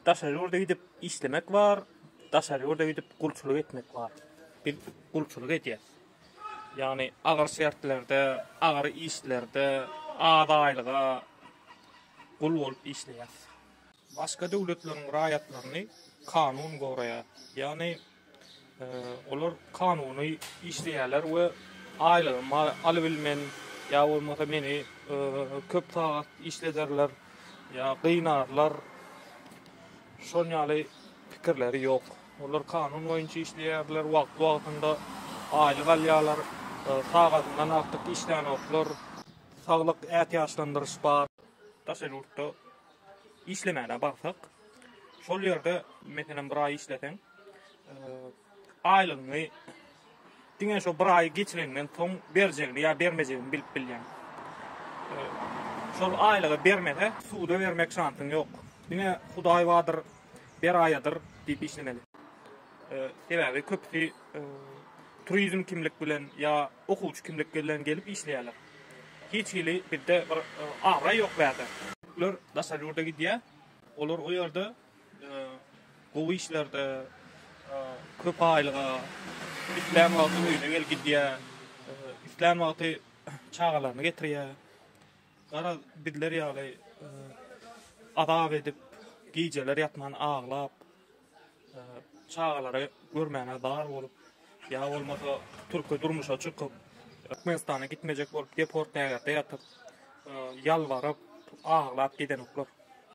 Daşary ýurda gidip işlemek bar, daşary ýurda gidip gulçulyk etmek bar. Biz gulçulyk edýäs. Ýagny agyr şertlerde, agyr işlerde, az aýlyga gul bolup işleýäs. Başga döwletleriň raýatlaryny kanun goraýar. Ýagny Olar kanuny işleýärler we aýlygymy alybilmen ýa bolmasa meni köp sagat işlederler ýa gynarlar şon ýaly pikirleri ýok. Olar kanun boýunça işleýärler, wagtly wagtynda aýlyk alýarlar, sagadyndan artyk işlänoklar, saglyk ätiýaçlandyryş bar. Daşary ýurtda işlemäne barsak, şol ýerde, meselem, bir aý işleseň, aýlygyňy diňe şo bir aý geçireňden soň berjegini ýa bermejegini bilip bilýäň. Şol aýlygy bermese, suda bermek şansyň ýok. Diňe Hudaý bardyr, beraýadyr diýip işlemeli. Sebäbi köpüsi turizm kimlik bilen ýa okuwçy kimlik bilen gelip işleýärler. Hiç hili bizde bir abraý ýok bärde. Türkler daşary ýurda gidýä. Olar o ýerde gowy işlerde, köp aýlyga, islän wagty öýüne gelip gidýä, islän wagty çagalaryny getirýä. Garaz, bizler ýaly azap edip, gijeler ýatman aglap, çagalary görmäne bar bolup, ýa bolmasa türki durmuşa çykyp, Türkmenistana gitmejek bolup deport lägerde ýatyp, ýalbaryp, aglap gidenoklar.